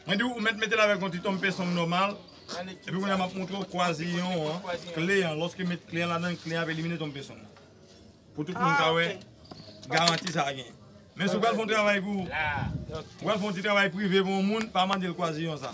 Mwen di ou, ou mèt mete l avèk yon ti tonmpe song nòmal, epi kounye a m ap montre ou kwaziyon an, kle an, lòske met kle an ladan l, kle an ap elimine tonmpe song nan. Pou tout moun ka wè garanti sa genyen. Men si w pral fè yon travay pou ou, ou pral fè yon ti travay prive pou yon moun, pa mande l kwaziyon sa.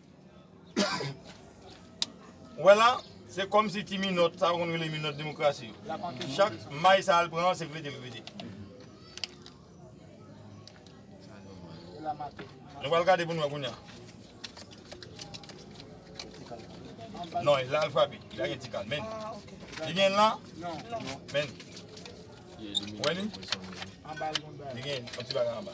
Ou wè la, se kòm si ti minòt, sa yo konn rele minòt demokrasi yo, chak may sa l pran an, se vide l vide. Nou pral gade pou nou wè kounya. Non, e la l frape, li pa gen ti kal. Men li. Li gen l la? Men li. Ou wè li? Li gen yon ti bagay anba.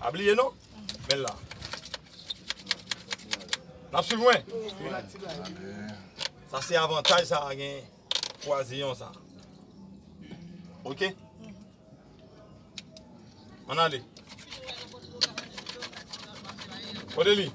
Pa bliye non, men la. Nap suiv mwen? Sa se avantaj sa a gen kwaziyon sa. Ok? An ale. Kote li?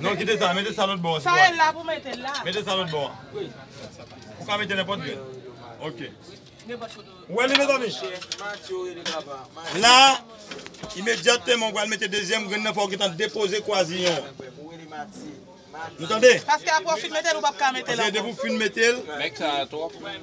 Non kite sa, mete sa lòt bò an. Sa e la pou mete l la. Mete sa lòt bò an. Ou ka mete nenpòt grenn. Ok. Ou wè li mezanmi? La, imedyatèman ou pral mete dezyèm grenn nan fò ou gentan depoze kwaziyon an. Nou tande? Paske aprè ou fin mete l ou pap ka mete l ankò. Paske depi ou fin mete l. Nèg sa a twòp menn.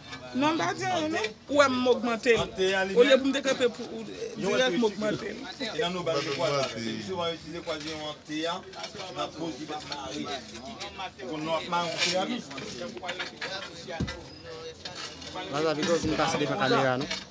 Non m pa di anyen non. Ou wè m ogmante l. Olye pou m te kanpe pou ou dirèk m ogmante l. Wazabi pa vin pase devan kamera non.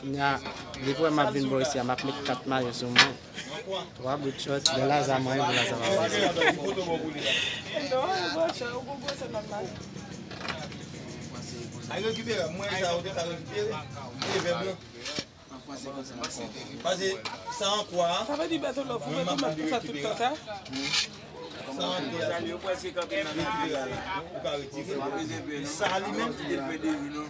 Kounya li t wè map vin bò isi a map met 4 mayo sou mwen 3 bout chòt lè Laza manyen pou Laza pa pase.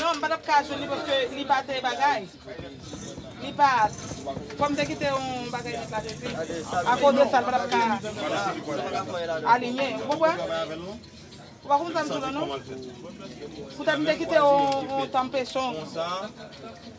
Non, m pa t ap ka jwenn li paske li pa te bagay. Li pa. Fò m te kite yon bagay nèt la depi. Akoz de sa, l pa t ap ka aliyen. Ou konprann? Ou pa konprann sa m di w la non. Poutèt m te kite yon tanpesyon.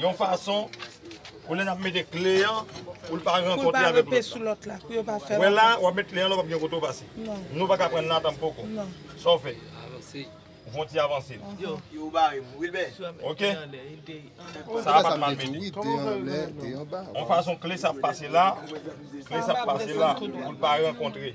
Yon fason pou lè nap mete kle an poul pa rankontre avèk lòt la. Wè la wap met kle an la ou pap gen kote ou pase. Nou paka pran nan tanm poko. Sa ou fè? Ou fon ti avanse. Ok sa a pat mal mete. Yon fason kle sa ap pase la, kle sa ap pase la poul pa rankontre.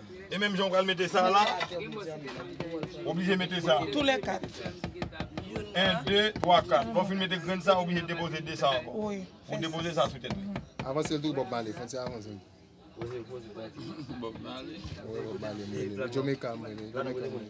E menm jan ou pral mete sa la, ou oblije mete sa. Tou lè kat. 1, 2, 3, 4. Lè w fin mete grenn sa, ou oblije depoze 2 sa ankò. Wi. Ou depoze sa sou tèt li. Avanse l tou Bob Marley. Fon ti avanse l. Bob Marley. Bob Marley. Mwen rele l. Jamaica mwen rele l.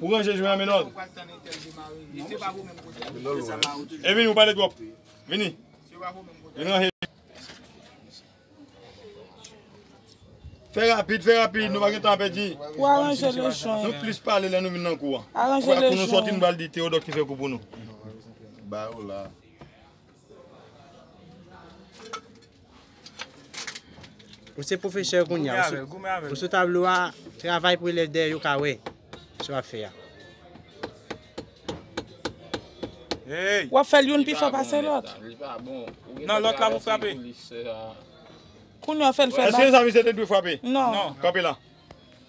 Ou ranje jwen an Menold. E vini ou pale trop. Vini. Vini ranje. Fè rapid, fè rapid, nou pa gen tan pèdi. Ou aranje le jwen. Nou plis pale lè nou vin nan kou an. Aranje le jwen. Kou nou soti nou bal di Théodore ki fè kou pou nou. Ba ou la. Ou se pwofesè kounye a, ou sou tablo a, travay pou elèv dèyè yo ka wè sou ap fè a. Wap fèl youn pi fò pase lòt. Nan lòt la pou frape. Kounye a fèl fè bak. Eske zan mi se te dwe frape? Non. Kanpe la.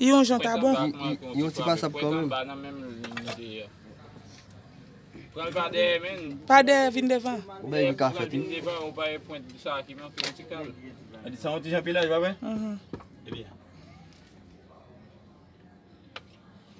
I yon jan ta bon. I yon ti pasab kanmenm. Pa dèyè vin devan. Yon bagay ki ka fèt wi.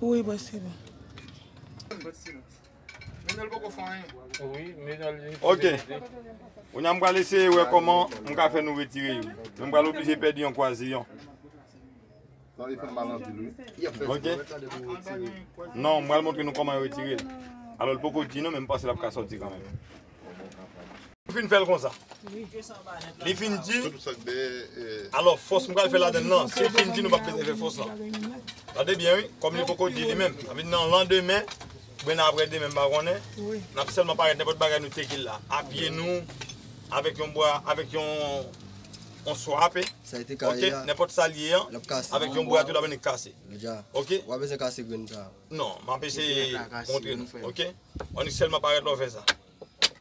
Wi bwa se bon. Ok Kounya m pral eseye wè kòman m ka fè nou retire yo Men m pral oblije pèdi yon kwaziyon Ok Non m pral montre nou kòman yo retire l Alò l poko di non men m panse l ap ka sòti kanmenm Li fin fè l konsa. Li fin di, alò fòs m pral fè ladann lan, si l fin di nou pa p bezwen fè fòs lan. Tande byen wi, kòm li poko di li menm, sa vle di nan landemen, oubyen nan aprè demen m pa konnen, n ap sèlman parèt nenpòt bagay nou teke la, a pye nou, avèk yon bwa, avèk yon swa ape, ok, nenpòt sa l ye an, avèk yon bwa tou la vini kase. Ok? Non, m ap eseye montre nou, ok? Annik sèlman parèt lè w fè sa.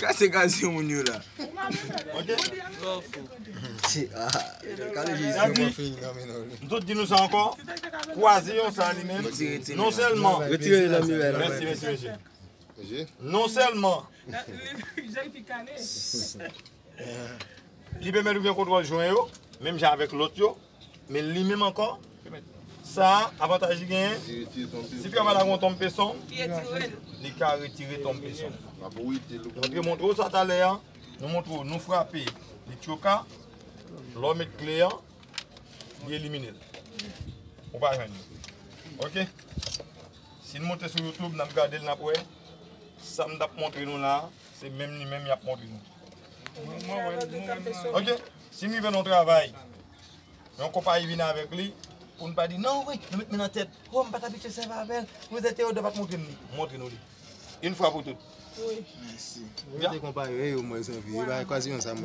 Kase gaz yon moun yo la. Mtot di nou sa ankò. Kwaze yon sa li menm. Non sèlman. Mèsi mèsi mesye. Non sèlman. Li pèmèt ou gen kontwòl jwen yo. Menm jan avèk lòt yo. Men li menm ankò, sa a, avantaj li genyen, si fè mal ak yon tonm peson, li ka retire tonm peson. Nou te montre w sa talè a, nou montre w, nou frape li tyoka, lè w met kle a, li elimine l. Ou pa jwenn li. Ok? Si n monte sou YouTube, n ap gade l, n ap wè, sa m t ap montre nou la a, se menm li menm y ap montre nou. Ok? Si m rive nan yon travay, yon konpayi vin avèk li, pou n pa di, non wi, nou met men nan tèt, o m pa t abitye sèvi avè l, m rete Teyodò pa t montre m li, m montre nou li. Yn fwa pou tout.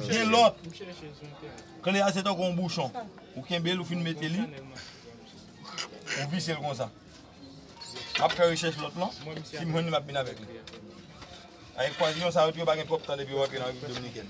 Gen lòt, kle a se tankou yon bouchon, ou kenbe l, ou fin mete li, ou vise l konsa. M ap fè rechèch lòt lan, si m jwenn li m ap vin avèk li. Avèk pwazyon sa yo tou yo pa gen twòp tan depi yo rantre nan Repiblik Dominikèn.